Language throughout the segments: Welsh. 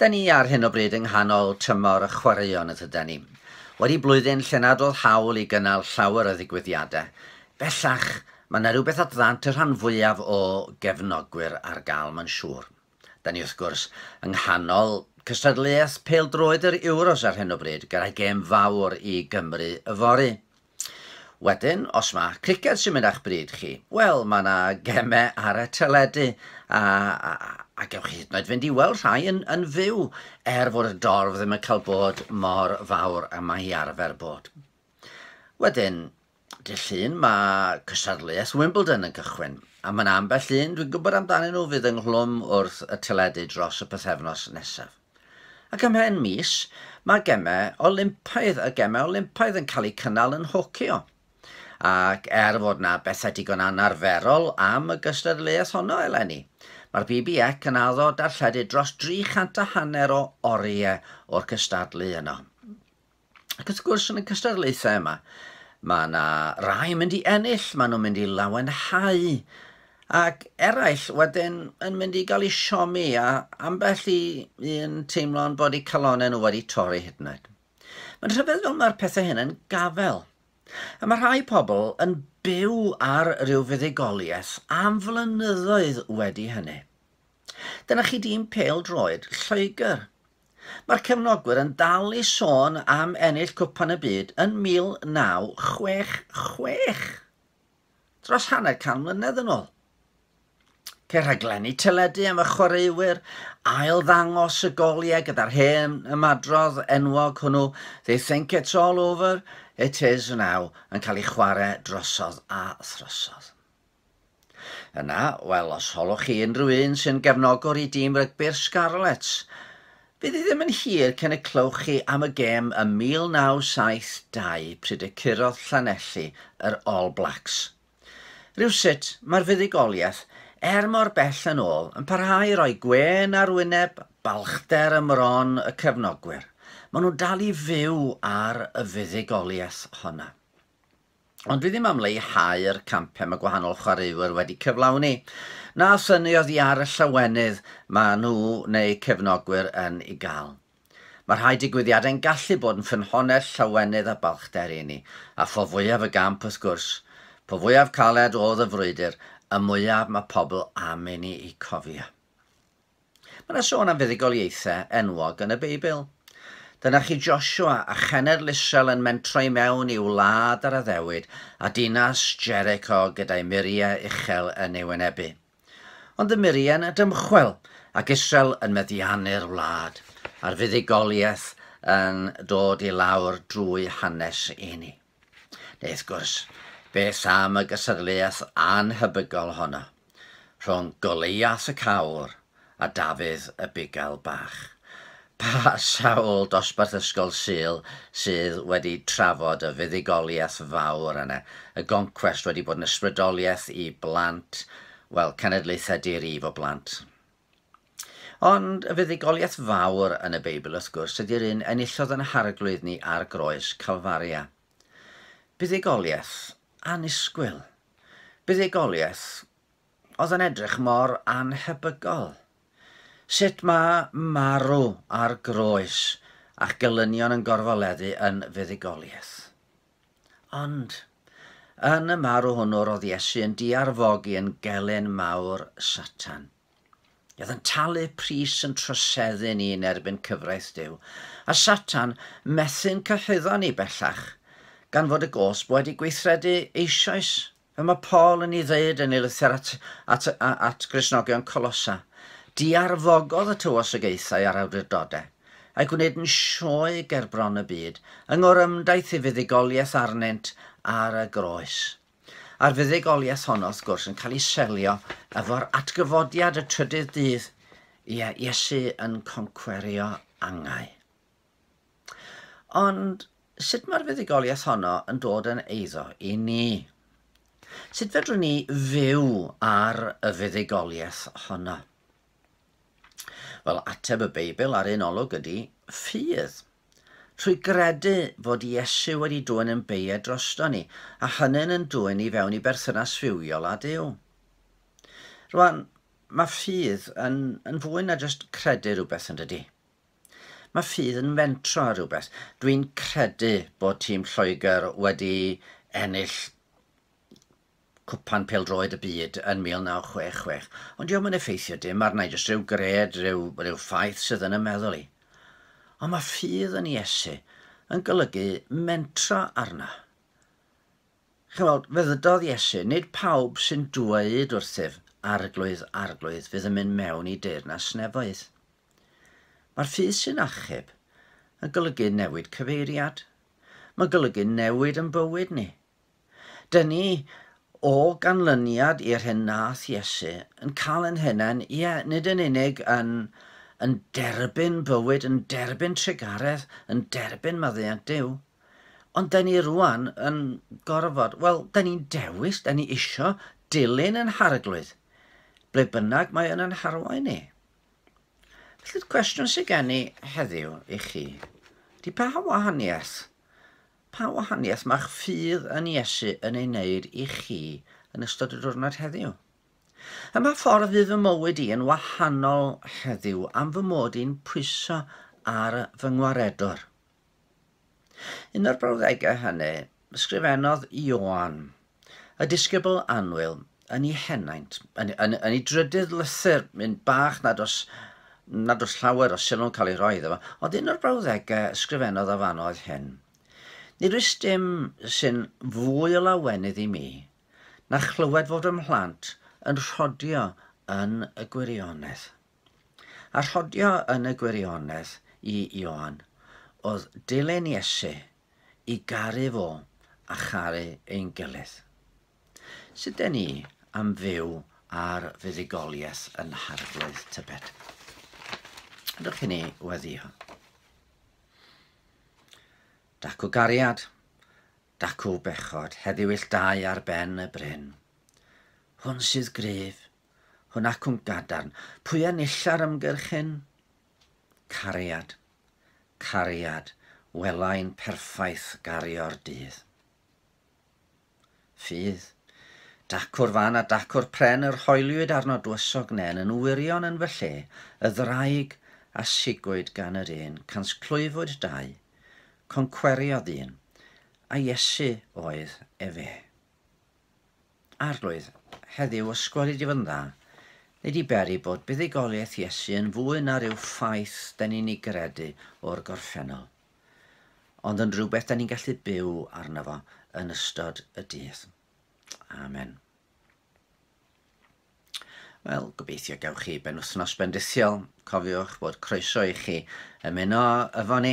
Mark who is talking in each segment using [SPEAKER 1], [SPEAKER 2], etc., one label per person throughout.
[SPEAKER 1] Da ni ar hyn o bryd yng nghanol tymor y chwaraeon y tydan ni. Wedi blwyddyn lle nad oedd hawl i gynnal llawer o ddigwyddiadau, bellach mae yna rywbeth at ddant y rhan fwyaf o gefnogwyr ar gael mae'n siŵr. Da ni wrth gwrs yng nghanol cystadleuaeth pêl-droed yr Euros ar hyn o bryd gyda gêm fawr i Gymru yfory. Wedyn, os mae criced sy'n mynd â'ch bryd chi, wel, mae yna gemau ar y teledu, a, a, a gewch chi hyd yn oed fynd i weld rhai yn, yn fyw, er fod y dorf ddim yn cael bod mor fawr a mae hi arfer bod. Wedyn, Dy llun mae cystadleuaeth Wimbledon yn cychwyn, a mae'n ambell un dwi'n gwybod amdanyn nhw fydd ynghlwm wrth y teledu dros y pethefnos nesaf. Ac ym mhen mis, mae gemau Olympaidd, y gemau Olympaidd yn cael eu cynnal yn Nhokyo. Ac er fod na bethau digon anarferol am y gystadleuaeth honno eleni, mae'r BBEC yn addo darlledu dros 300 a hanner o oriau o'r cystadlu yno. Ac wrth gwrs yn y cystadlaethau yma, mae yna rai yn mynd i ennill, maen nhw'n mynd i lawenhau, ac eraill wedyn yn mynd i gael ei siomi a ambell i un teimlo'n bod eu calonau nhw wedi torri hyd yn oed. Mae'n rhyfedd fel mae'r pethau hyn yn gafel. A mae rhai pobl yn byw ar ryw fuddugoliaeth am flynyddoedd wedi hynny. Dyna chi dîm pêl-droed Lloegr. Mae'r cefnogwyr yn dal i sôn am ennill Cwpan y Byd yn 1966, dros hanner can mlynedd yn ôl. Ceir rhaglenni teledu am y chwaraewyr, ail ddangos y goliau gyda'r hen ymadrodd enwog hwnnw, They think it's all over, it is now, yn cael ei chwarae drosodd a throsodd. Yna, wel, os holwch chi unrhyw un sy'n gefnogwr i dîm rygbi'r Scarlets, fydd hi ddim yn hir cyn y clywch chi am y gêm ym 1972 pryd y curodd Llanelli yr All Blacks. Rywsut, mae'r fuddugoliaeth, er mor bell yn ôl, yn parhau i roi gwên ar wyneb balchder ym mron y cefnogwyr. Maen nhw'n dal i fyw ar y fuddugoliaeth honna. Ond dwi ddim am leihau'r campau mae gwahanol chwaraewyr wedi cyflawni, na synnu oddi ar y llawenydd mae nhw neu cefnogwyr yn ei gael. Mae rhai digwyddiadau'n gallu bod yn ffynhonnell llawenydd a balchder i ni, a pho fwyaf y gamp wrth gwrs, po fwyaf caled oedd y frwydr, y mwyaf mae pobl am i ni eu cofio. Mae yna sôn am fuddugoliaethau enwog yn y Beibl. Dyna chi Joshua a chenedl Israel yn mentro i mewn i'w wlad ar addewid, a dinas Jericho gyda'i muriau uchel yn ei wynebu. Ond y muriau yna dymchwel, ac Israel yn meddiannu'r wlad, a'r fuddugoliaeth yn dod i lawr drwy hanes i ni. Neu wrth gwrs, beth am y gystadleuaeth annhebygol honno rhwng Goliath y Cawr a Dafydd y Bugail Bach? Pa sawl dosbarth ysgol Sul sydd wedi trafod y fuddugoliaeth fawr yna? Y goncwest wedi bod yn ysbrydoliaeth i blant, wel, cenedlaethau di-rif o blant. Ond y fuddugoliaeth fawr yn y Beibl, wrth gwrs, ydy'r un enillodd yn harglwydd ni ar groes Calfaria. Buddugoliaeth annisgwyl. Buddugoliaeth oedd yn edrych mor annhebygol. Sut mae marw ar groes a'ch gelynion yn gorfoleddu yn fuddugoliaeth? Ond, yn y marw hwnnw roedd Iesu yn diarfogi yn gelyn mawr Satan. Oedd yn talu pris yn troseddu ni yn erbyn cyfraith Duw, a Satan methu'n cyhuddo ni bellach, gan fod y gosb wedi gweithredu eisoes Fel mae Paul yn ei ddweud yn ei lythyr at, at, at Gristnogion Colosa, diarfogodd y tywosogaethau a'r awdurdodau, a'i gwneud yn sioe ger bron y byd, yng ngorymdaith ei fuddugoliaeth arnynt ar y groes. A'r fuddugoliaeth honno, wrth gwrs, yn cael ei selio efo'r atgyfodiad y trydydd dydd, ie, Iesu yn concwerio angau. Ond sut mae'r fuddugoliaeth honno yn dod yn eiddo i ni? Sut fedrwn ni fyw ar y fuddugoliaeth honno? Wel, ateb y Beibl ar un olwg ydy ffydd. Trwy gredu fod Iesu wedi dwyn yn beiau drosto ni, a hynny'n yn dwyn i fewn i berthynas fywiol â Duw. Rwan, mae ffydd yn, yn fwy na jyst credu rhywbeth yn dydy. Mae ffydd yn fentro ar rywbeth. Dwi'n credu bod tîm Lloegr wedi ennill Cwpan Pêl-droed y Byd yn 1966, ond diom yn effeithio dim arna i, jyst rhyw gred, rhyw, rhyw ffaith sydd yn y meddwl i. Ond mae ffydd yn Iesu yn golygu mentro arna. Chi'n weld, fe ddydodd Iesu, nid pawb sy'n dweud wrthyf, arglwydd, arglwydd, fydd yn mynd mewn i deyrnas nefoedd. Mae'r ffydd sy'n achub yn golygu newid cyfeiriad. Mae'n golygu newid yn bywyd ni. Dyn ni o ganlyniad i'r hyn nath Iesu yn cael yn hunain, ie, nid yn unig yn, yn derbyn bywyd, yn derbyn trugaredd, yn derbyn maddeuant Duw, ond dyn ni rwan yn gorfod, wel, dyn ni'n dewis, dyn ni isio dilyn yn harglwydd, ble bynnag mae yn yn harwain ni. Felly'r cwestiwn sydd gen i heddiw i chi, di pa wahaniaeth, pa wahaniaeth mae'ch ffydd yn Iesu yn ei wneud i chi yn ystod y diwrnod heddiw? Ym mha ffordd fydd fy mywyd i yn wahanol heddiw am fy mod i'n pwyso ar fy ngwaredwr? Yn yr brawddegau hynny, ysgrifennodd Ioan, y disgybl annwyl, yn ei henaint, yn, yn, yn ei drydydd lythyr, un bach nad os, nad os llawer o sylw'n cael ei roi iddo fo, ond un o'r brawddegau ysgrifennodd o fan oedd hyn. Nid oes dim sy'n fwy o lawenydd i mi na chlywed fod fy mhlant yn rhodio yn y gwirionedd. A rhodio yn y gwirionedd i Ioan, oedd dilyn Iesu, i garu fo a charu ein gilydd. Sut den ni am fyw ar fuddugoliaeth yn harglwydd tybed? Ydych chi'n ei weddio? Dacw gariad, dacw bechod, heddiw ill dau ar ben y bryn. Hwn sydd gryf, Hwn acwn gadarn. Pwy a nilla'r ymgyrch hyn? Cariad. Cariad. Welai'n perffaith gario'r dydd. Ffydd. Dacw'r fan a dacw'r pren yr hoeliwyd arno dwysog nen yn wirion yn fy lle, y ddraig a sigwyd gan yr un, cansclwyfwyd dau, concweriodd un, a Iesu oedd efe. Arglwydd, heddiw ysgwel i di fod yn dda. Nei di beri bod buddugoliaeth Iesu yn fwy na rhyw ffaith da ni'n ei gredu o'r gorffennol, ond yn rhywbeth da ni'n gallu byw arno fo yn ystod y dydd. Amen. Wel, gobeithio gewch chi ben wythnos bendithiol. Cofiwch bod croeso i chi ymuno efo ni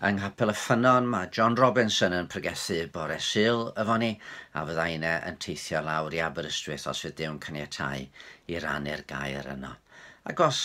[SPEAKER 1] yng Nghapel y Ffynnon. Mae John Robinson yn pregethu bore syl efo ni, a fydda yna yn teithio lawr i Aberystwyth os fydd Dew'n caniatau i rannu'r gair yno. Ac os